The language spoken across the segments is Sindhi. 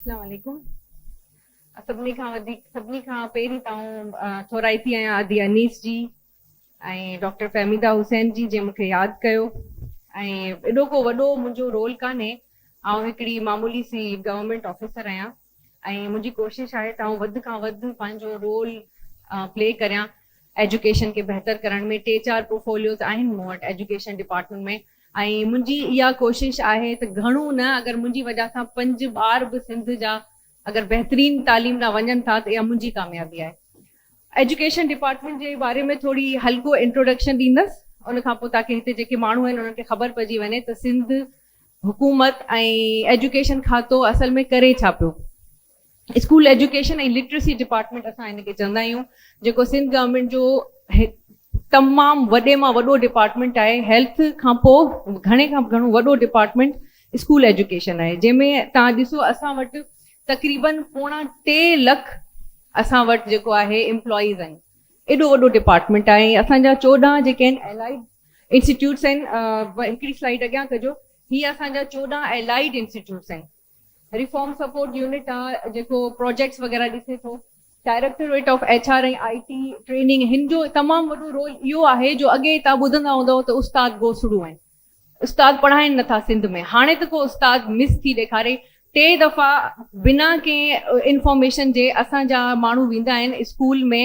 اسلام عليڪم سڀني کان وڌيڪ سڀني کان پهرين ته آئون ٿورائي ٿي آهيان ادي انيس جي ۽ ڊاڪٽر فهميده حسين جي جنهن مونکي ياد ڪيو ۽ ايڏو ڪو وڏو منهنجو رول ڪانهي آئون هڪڙي معمولي سي گورنمينٽ آفيسر آهيان ۽ منهنجي ڪوشش آهي ته آئون وڌ کان وڌ پنهنجو رول پلي ڪريان ايجوڪيشن کي بهتر ڪرڻ ۾ ٽي چار پورفوليوز آهن مون وٽ ايجوڪيشن ڊپارٽمينٽ ۾ ۽ منهنجي اها ڪوشش آهي ته گهڻو نه اگر منهنجي وجه سان پنج ٻار به سنڌ جا اگر بهترين تعليم ڏانهن وڃن ٿا ته اها منهنجي ڪاميابي آهي. ايجوڪيشن ڊپارٽمينٽ جي باري ۾ ٿوري هلڪو انٽروڊڪشن ڏيندس ان کان پوء تاڪي هتي جيڪي ماڻهو آهن انهن کي خبر پئجي وڃي ته سنڌ حڪومت ۽ ايجوڪيشن کاتو اصل ۾ ڪري ڇا پيو. اسڪول ايجوڪيشن ۽ لٽريسي ڊپارٽمينٽ اسان هن کي چوندا آهيون جيڪو سنڌ گورنمينٽ جو هڪ تمام وڏي مان وڏو ڊپارٽمينٽ آهي هيلٿ کان پوء گهڻي کان گهڻو وڏو ڊپارٽمينٽ اسڪول ايجوڪيشن آهي جنهن ۾ تان ڏسو اسان وٽ تقريبن پوڻا ٽي لک اسان وٽ جيڪو آهي امپلائيز آهن ايڏو وڏو ڊپارٽمينٽ آهي ۽ اسان جا چوڏهن جيڪي آهن الائيڊ انسٽيٽيوٽس آهن هڪڙي سلائيڊ اڳيان ڪجو هي اسان جا چوڏهن الائيڊ انسٽيٽيوٽس آهن ريفارم سپورٽ يونٽ آ جيڪو پراجيڪٽس وغيره ڏسي ٿو، directorate of H R ۽ I T training هن جو تمام وڏو رول اهو آهي جو اڳي تان ٻڌندا هوندؤ ته استاد گوسڙو ۽ استاد پڙهائين نه ٿا سنڌ ۾ هاڻي ته ڪو استاد مس ٿي ڏيکاري ٽي دفعا بنا ڪنهن انفارميشن جي اسان جا ماڻهو ويندا آهن اسڪول ۾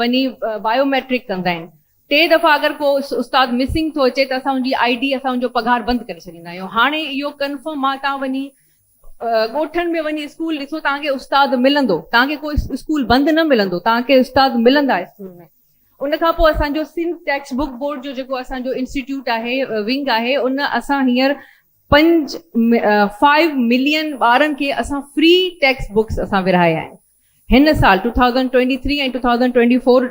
وڃي بايو ميٽرڪ ڪندا آهن ٽي دفعا اگر ڪو استاد مسنگ ٿو اچي ته اسان ان جي آئي ڊي اسان ان جو پگهار بند ڪري ڇڏيندا آهيون هاڻي اهو ڪنفرم آهي تان وڃي ڳوٺن ۾ وڃي اسڪول ڏسو تان کي استاد ملندو تان کي ڪو اسڪول بند نه ملندو تان کي استاد ملندا اسڪول ۾ ان کان پوء اسان جو سنڌ ٽيڪسٽ بوڪ بورڊ جو جيڪو اسان جو انسٽيٽيوٽ آهي ونگ آهي ان اسان هينئر پنج فائيو ملين ٻارن کي اسان فري ٽيڪسٽ بوڪس اسان ورهايا آهن هن سال two thousand twenty three ۽ two thousand twenty four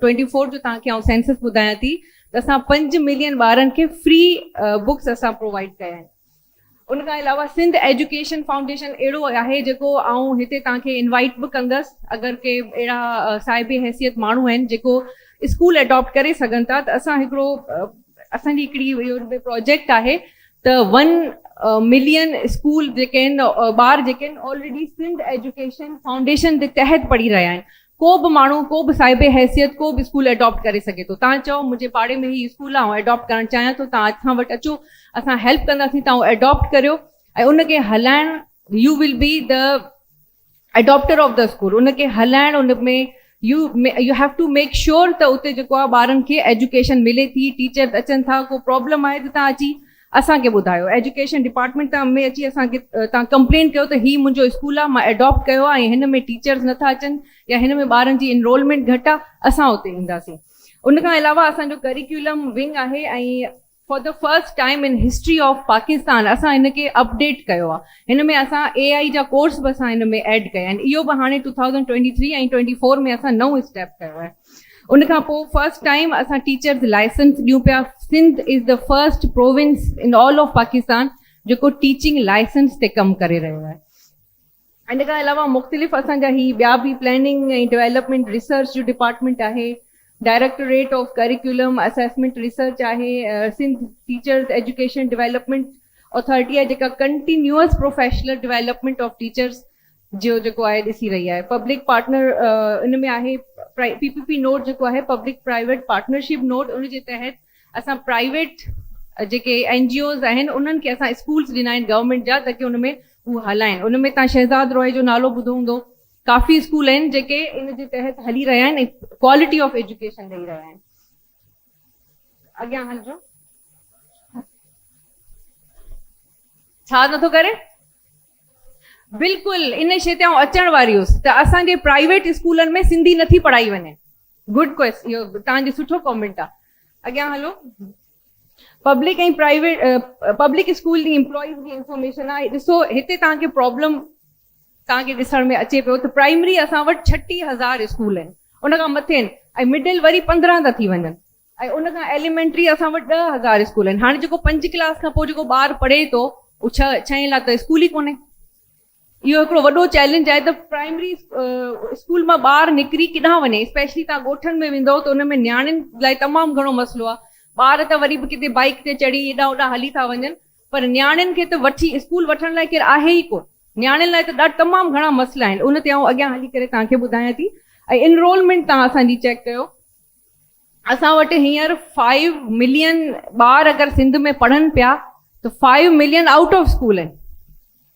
twenty four جو توهان کي آئون سينسس ٻڌايان ٿي ته اسان پنج ملين ٻارن کي فري بڪس اسان پرووائيڊ ڪيا آهن ان کان علاوه سنڌ ايجوڪيشن فائونڊيشن اهڙو آهي جيڪو آئون هتي توهان کي انوائيٽ به ڪندس اگر ڪي اهڙا صاحب حيثيت ماڻهو آهن جيڪو اسڪول اڊاپٽ ڪري سگهن ٿا ته اسان هڪڙو اسان جي هڪڙي اهو پروجيڪٽ آهي ته ون ملين اسڪول جيڪي آهن ٻار جيڪي آهن آلريڊي سنڌ ايجوڪيشن فائونڊيشن جي تحت پڙهي رهيا آهن ڪو به ماڻهو ڪو به صاحب حيثيت ڪو به اسڪول اڊاپٽ ڪري سگهي ٿو تان چئو منهنجي پاڙي ۾ هي اسڪول آهي آئون اڊاپٽ ڪرڻ چاهيان ٿو تان اسان وٽ اچو اسان هيلپ ڪنداسين تان اڊاپٽ ڪريو ۽ ان کي هلائڻ you will be the adopter of the school ان کي هلائڻ ان ۾ you you have to make sure ته اتي جيڪو آهي ٻارن کي ايجوڪيشن ملي ٿي ٽيچرس اچن ٿا ڪو پرابلم آهي ته تان اچي اسان کي ٻڌايو ايجوڪيشن ڊپارٽمينٽ تان ۾ اچي اسان کي تان ڪمپلينٽ ڪيو ته هي منهنجو اسڪول آهي مان اڊاپٽ ڪيو آهي ۽ هن ۾ ٽيچرس نٿا اچن يا هن ۾ ٻارن جي انرولمينٽ گهٽ آهي اسان اتي اينداسين ان کان علاوه اسان جو ڪريڪيولم ونگ آهي ۽ for the first time in history of Pakistan اسان هن کي اپڊيٽ ڪيو آ هن ۾ اسان اي آئي جا ڪورس به اسان هن ۾ ايڊ ڪيا آهن اهو به هاڻي two thousand twenty three ۽ twenty four ۾ اسان نئون اسٽيپ ڪيو آهي ان کان پوء فرسٽ ٽائيم اسان ٽيچرز لائسنس ڏيون پيا Sindh is the first province in all of Pakistan جيڪو ٽيچنگ لائسنس تي ڪم ڪري رهيو آهي. ان کان علاوه مختلف اسان جا هي ٻيا به پلاننگ ۽ ڊويلپمينٽ ريسرچ جو ڊپارٽمينٽ آهي، directorate of curriculum assessment research آهي، Sindh teachers education development authority آهي جيڪا continuous professional development of teachers جو جيڪو آهي ڏسي رهي آهي. پبلڪ پارٽنر ان ۾ آهي پي پي پي نوڊ جيڪو آهي پبلڪ پرائيويٽ پارٽنرشپ نوڊ ان جي تحت اسان پرائيويٽ جيڪي اين جي اوز آهن انهن کي اسان اسڪولز ڏنا آهن گورنمينٽ جا تاڪي ان ۾ هو هلائين ان ۾ تان شهزاد روهي جو نالو ٻڌو هوندو ڪافي اسڪول آهن جيڪي ان جي تحت هلي رهيا آهن ۽ ڪوالٽي آف ايجوڪيشن ڏئي رهيا آهن اڳيان هلجو ڇا نٿو ڪري بلڪل ان شيء تي آئون اچڻ واري هيس ته اسان جي پرائيويٽ اسڪولن ۾ سنڌي نٿي پڙهائي وڃي گڊ ڪويس اهو توهان جو سٺو ڪامينٽ آ اڳيان هلو پبلڪ ۽ پرائيويٽ پبلڪ اسڪول جي امپلائيز جي انفارميشن آ ڏسو هتي توهان کي پرابلم توهان کي ڏسڻ ۾ اچي پيو ته پرائمري اسان وٽ ڇٽيهه هزار اسڪول آهن ان کان مٿي آهن ۽ مڊل وري پندرهن ٿا ٿي وڃن ۽ ان کان ايليمينٽري اسان وٽ ڏهه هزار اسڪول آهن هاڻي جيڪو پنج ڪلاس کان پوء جيڪو ٻار پڙهي ٿو اهو ڇهه ڇهين لاء ته اسڪول ئي ڪونهي اهو هڪڙو وڏو چئلينج آهي ته پرائمري اسڪول مان ٻار نڪري ڪيڏانهن وڃي اسپيشلي تهان ڳوٺن ۾ ويندؤ ته ان ۾ نياڻين لاء تمام گهڻو مسئلو آهي ٻار ته وري به ڪٿي بائيڪ تي چڙهي هيڏانهن هوڏانهن هلي ٿا وڃن پر نياڻين کي ته وٺي اسڪول وٺڻ لاء ڪير آهي ئي ڪونه نياڻين لاء ته ڏاڍا تمام گهڻا مسئلا آهن ان تي آئون اڳيان هلي ڪري تهان کي ٻڌايان ٿي ۽ انرولمينٽ تهان اسان جي چيڪ ڪيو اسان وٽ هينئر فائيو ملين ٻار اگر سنڌ ۾ پڙهن پيا ته five million out of school آهن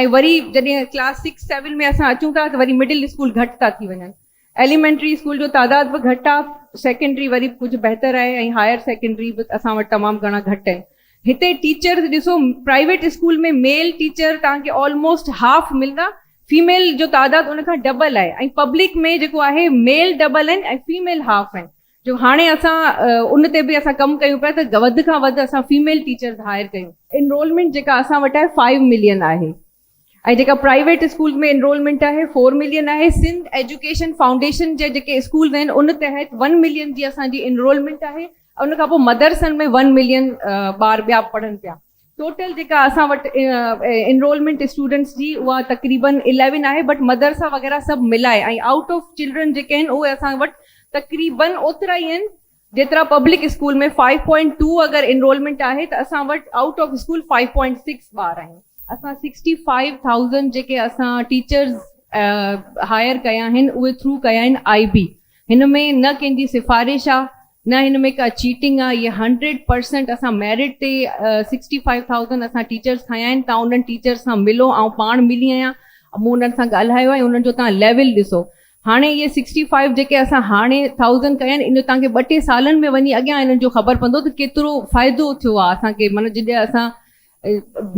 ۽ وري جڏهن ڪلاس سڪس سيون ۾ اسان اچون ٿا ته وري مڊل اسڪول گهٽ ٿا ٿي وڃن ايليمينٽري اسڪول جو تعداد به گهٽ آهي سيڪنڊري وري ڪجهه بهتر آهي ۽ هائر سيڪنڊري به اسان وٽ تمام گهڻا گهٽ آهن هتي ٽيچر ڏسو پرائيويٽ اسڪول ۾ ميل ٽيچر توهان کي آلموسٽ هاف ملندا فيميل جو تعداد ان کان ڊبل آهي ۽ پبلڪ ۾ جيڪو آهي ميل ڊبل آهن ۽ فيميل هاف آهن جو هاڻي اسان ان تي به اسان ڪم ڪيون پيا ته وڌ کان وڌ اسان فيميل ٽيچرز هائر ڪيون. انرولمينٽ جيڪا اسان وٽ آهي فائيو ملين آهي ۽ جيڪا پرائيويٽ اسڪولز ۾ انرولمينٽ آهي فور ملين آهي سنڌ ايجوڪيشن فائونڊيشن جا جيڪي اسڪولز آهن ان تحت ون ملين جي اسان جي انرولمينٽ آهي ۽ ان کان پوء مدرسن ۾ ون ملين ٻار ٻيا پڙهن پيا. ٽوٽل جيڪا اسان وٽ انرولمينٽ اسٽوڊنٽس جي اها تقريبن اليون آهي بٽ مدرسا وغيره سڀ ملائي ۽ آئوٽ آف چلڊرن جيڪي آهن اهي اسان وٽ تقريبن اوترا ئي آهن جيترا public school ۾ five point two اگر انرولمينٽ آهي ته اسان وٽ out of school five point six ٻار آهن. اسان سڪسٽي فائيو ٿائوزنڊ جيڪي اسان ٽيچرز هائر ڪيا آهن اهي ٿرو ڪيا آهن آئي بي هن ۾ نه ڪنهن جي سفارش آهي نه هن ۾ ڪا چيٽنگ آ هي هنڊريڊ پرسنٽ اسان ميرٽ تي سڪسٽي فائيو ٿائوزنڊ اسان ٽيچرس کنيا آهن تان انهن ٽيچرس سان ملو آئون پاڻ ملي آهيان مون انهن سان ڳالهايو آهي انهن جو تان ليول ڏسو هاڻي اهي سڪسٽي فائيو جيڪي اسان هاڻي ٿائوزنڊ ڪيا آهن ان جو تان کي ٻه ٽي سالن ۾ وڃي اڳيان انهن جو خبر پوندو ته ڪيترو فائدو ٿيو آ اسان کي معنيٰ جڏهن اسان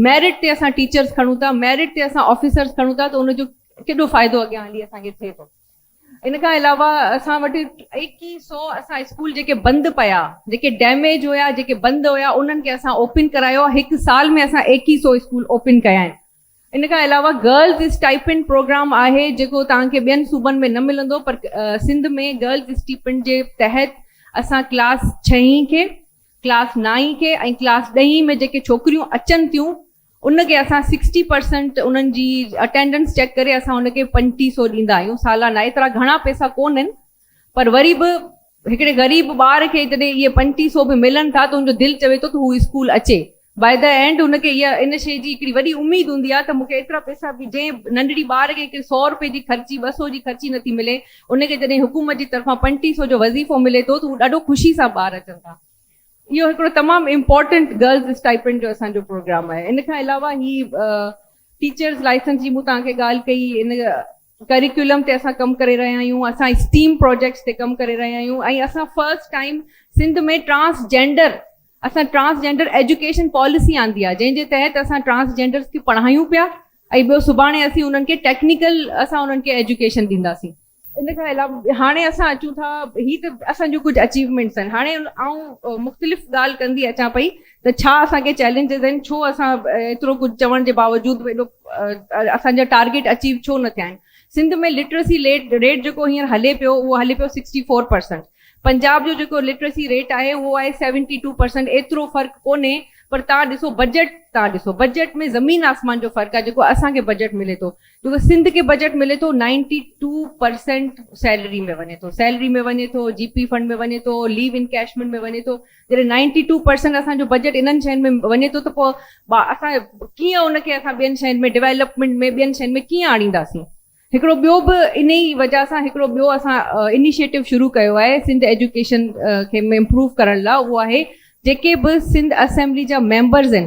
ميرٽ تي اسان ٽيچرس کڻون ٿا ميرٽ تي اسان آفيسرس کڻون ٿا ته ان جو ڪيڏو فائدو اڳيان هلي اسان کي ٿئي ٿو. ان کان علاوه اسان وٽ ايڪيهه سؤ اسان اسڪول جيڪي بند پيا جيڪي ڊيميج هيا جيڪي بند هيا انهن کي اسان اوپن ڪرايو آهي هڪ سال ۾ اسان ايڪيهه سؤ اسڪول اوپن ڪيا آهن ان کان علاوه گرلز اسٽائپنڊ پروگرام آهي جيڪو توهان کي ٻين صوبن ۾ نه ملندو پر سنڌ ۾ گرلز اسٽيپنڊ جي تحت اسان ڪلاس ڇهين کي ڪلاس نائين کي ۽ ڪلاس ڏهين ۾ جيڪي ڇوڪريون اچن ٿيون ان کي اسان سڪسٽي پرسنٽ انهن جي اٽينڊنس چيڪ ڪري اسان ان کي پنجٽيهه سئو ڏيندا آهيون سالانه ايترا گهڻا پئسا ڪو نهن پر وري به هڪڙي غريب ٻار کي جڏهن اهي پنجٽيهه سئو به ملن ٿا ته ان جو دل چوي ٿو ته هو اسڪول اچي بائي دي اينڊ ان کي اها ان شي جي هڪڙي وڏي اميد هوندي آهي ته مون کي ايترا پئسا به جنهن ننڍڙي ٻار کي هڪڙي سئو رپئي جي خرچي ٻه سئو جي خرچي نٿي ملي ان کي جڏهن حڪومت جي طرفان پنجٽيهه سئو جو وظيفو ملي ٿو ته هو ڏاڍو خوشي سان ٻار اچن ٿا اهو هڪڙو تمام امپورٽنٽ گرلز اسٽائپنڊ جو اسان جو پروگرام آهي ان کان علاوه هي ٽيچرز لائسنس جي مون توهان کي ڳالهه ڪئي ان ڪريڪولم تي اسان ڪم ڪري رهيا آهيون اسان اسٽيم پروجيڪٽس تي ڪم ڪري رهيا آهيون ۽ اسان first time Sindh ۾ transgender اسان ٽرانس جينڊر ايجوڪيشن پاليسي آندي آهي جنهن جي تحت اسان ٽرانس جينڊرس کي پڙهايون پيا ۽ ٻيو سڀاڻي اسين انهن کي ٽيڪنيڪل اسان انهن کي ايجوڪيشن ڏينداسين ان کان علاوه هاڻي اسان اچون ٿا هي ته اسان جون ڪجهه اچيومينٽس آهن هاڻي آئون مختلف ڳالهه ڪندي اچان پئي ته ڇا اسان کي چئلينجز آهن ڇو اسان ايترو ڪجهه چوڻ جي باوجود به ايڏو اسان جا ٽارگيٽ اچيو ڇو نه ٿيا آهن سنڌ ۾ لٽريسي ليٽ ريٽ جيڪو هينئر هلي پيو اهو هلي پيو سڪسٽي فور پرسنٽ پنجاب جو جيڪو لٽريسي ريٽ آهي اهو آهي سيونٽي ٽو پرسنٽ ايترو فرق ڪونهي پر تان ڏسو بجيٽ تان ڏسو بجيٽ ۾ زمين آسمان جو فرق آهي جيڪو اسان کي بجيٽ ملي ٿو ڇو ته سنڌ کي بجيٽ ملي ٿو نائنٽي ٽو پرسينٽ سيلري ۾ وڃي ٿو سيلري ۾ وڃي ٿو جي پي فنڊ ۾ وڃي ٿو ليو انڪيشمينٽ ۾ وڃي ٿو جڏهن نائنٽي ٽو پرسينٽ اسان جو بجيٽ انهن شين ۾ وڃي ٿو ته پوء اسان ڪيئن ان کي اسان ٻين شين ۾ ڊيولپمينٽ ۾ ٻين شين ۾ ڪيئن آڻينداسين هڪڙو ٻيو به انهي ئي وجه سان هڪڙو ٻيو اسان انيشيٽو شروع ڪيو آهي سنڌ ايجوڪيشن کي امپروو ڪرڻ لاء اهو آهي جيڪي به سنڌ اسيمبلي جا ميمبرز آهن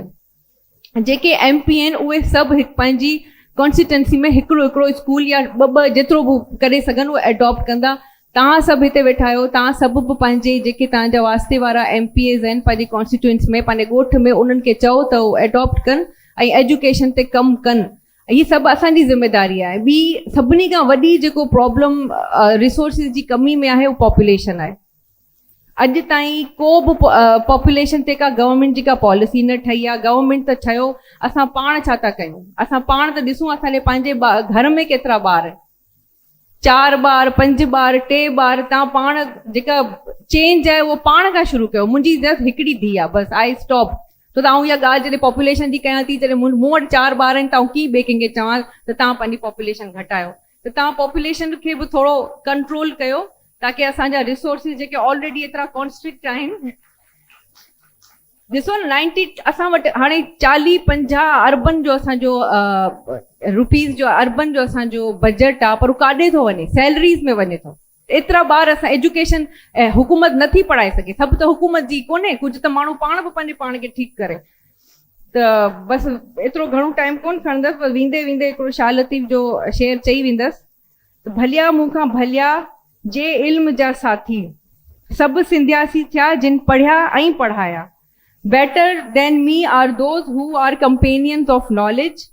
جيڪي ايم پي آهن اهي سڀ هڪ پنهنجي ڪانسٽيٽنسي ۾ هڪڙو هڪڙو اسڪول يا ٻه ٻه جيترو به ڪري سگهن اهو ايڊاپٽ ڪندا توهان سڀ هتي ويٺا آهيو توهان سڀ به پنهنجي جيڪي توهان جا واسطي وارا ايم پي ايز آهن پنهنجي ڪانسٽيٽوئنس ۾ پنهنجي ڳوٺ ۾ انهن کي چئو ته اهو ايڊاپٽ ڪن ۽ ايجوڪيشن تي ڪم ڪن هي سڀ اسان جي ذميداري آهي ٻي سڀني کان وڏي جيڪو پرابلم ريسورسز جي ڪمي ۾ آهي اهو پاپوليشن آهي اڄ تائين ڪو به پاپوليشن تي ڪا گورنمينٽ جي ڪا پاليسي نه ٺهي آ گورنمينٽ ته ڇيو اسان پاڻ ڇا ٿا ڪيون اسان پاڻ ته ڏسون اسان جي پنهنجي گهر ۾ ڪيترا ٻار چار ٻار پنج ٻار ٽي ٻار تان پاڻ جيڪا چينج آهي اهو پاڻ کان شروع ڪيو منهنجي جس هڪڙي ڌي آ بس آئي اسٽاپ ته تان اها ڳالهه جڏهن پاپوليشن جي ڪيان ٿي جڏهن مون وٽ چار ٻار آهن تان ڪي ٻي ڪنهن کي چوان ته تان پنهنجي پاپوليشن گهٽايو ته توهان پاپوليشن کي به ٿورو ڪنٽرول ڪيو تاڪه اسان جا ريسورسز جيڪي آلريڊي ايترا ڪانسٽرڪٽ آهن ڏسو نه نائنٽي اسان وٽ هاڻي چاليهه پنجاهه اربن جو اسان جو روپيز جو اربن جو اسان جو بجيٽ آهي پر هو ڪاڏي ٿو وڃي سيلريز ۾ وڃي ٿو ايترا ٻار اسان ايجوڪيشن ۽ حڪومت نه ٿي پڙهائي سگهي سڀ ته حڪومت جي ڪونهي ڪجهه ته ماڻهو پاڻ به پنهنجي پاڻ کي ٺيڪ ڪري ته بس ايترو گهڻو ٽائيم ڪون کڻندس بس ويندي ويندي هڪڙو شاهه لطيف جو شعر چئي ويندس ته ڀليا مون کان ڀليا جي علم جا ساٿي سڀ سنڌياسي ٿيا جن پڙهيا ۽ پڙهايا better than me are those who are companions of knowledge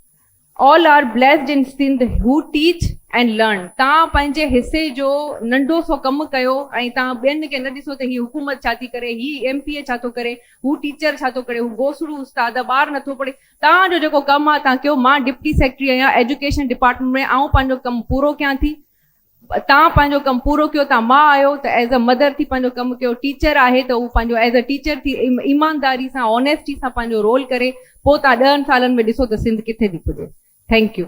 All are blessed in Sindh who teach and learn توهان پنهنجي حصي جو ننڍو سو ڪم ڪيو ۽ توهان ٻين کي نه ڏسو ته هي حڪومت ڇا ٿي ڪري، هي ايم پي اي ڇا ٿو ڪري، هو ٽيچر ڇا ٿو ڪري، هو گوسڙو استاد آ، ٻار نٿو پڙهي، توهان جو جيڪو ڪم آ توهان ڪيو، مان ڊپٽي سيڪريٽري آهيان ايجوڪيشن ڊپارٽمينٽ ۾ آئون پنهنجو ڪم پورو ڪيان ٿي، تان پنهنجو ڪم پورو ڪيو تان ماء آهيو ته ايز ا مدر ٿي پنهنجو ڪم ڪيو ٽيچر آهي ته هو پنهنجو ايز ا ٽيچر ٿي ايمانداري سان اونيسٽي سان پنهنجو رول ڪري پوء تان ڏهن سالن ۾ ڏسو ته سنڌ ڪٿي ٿي پڄي ٿينڪ يو.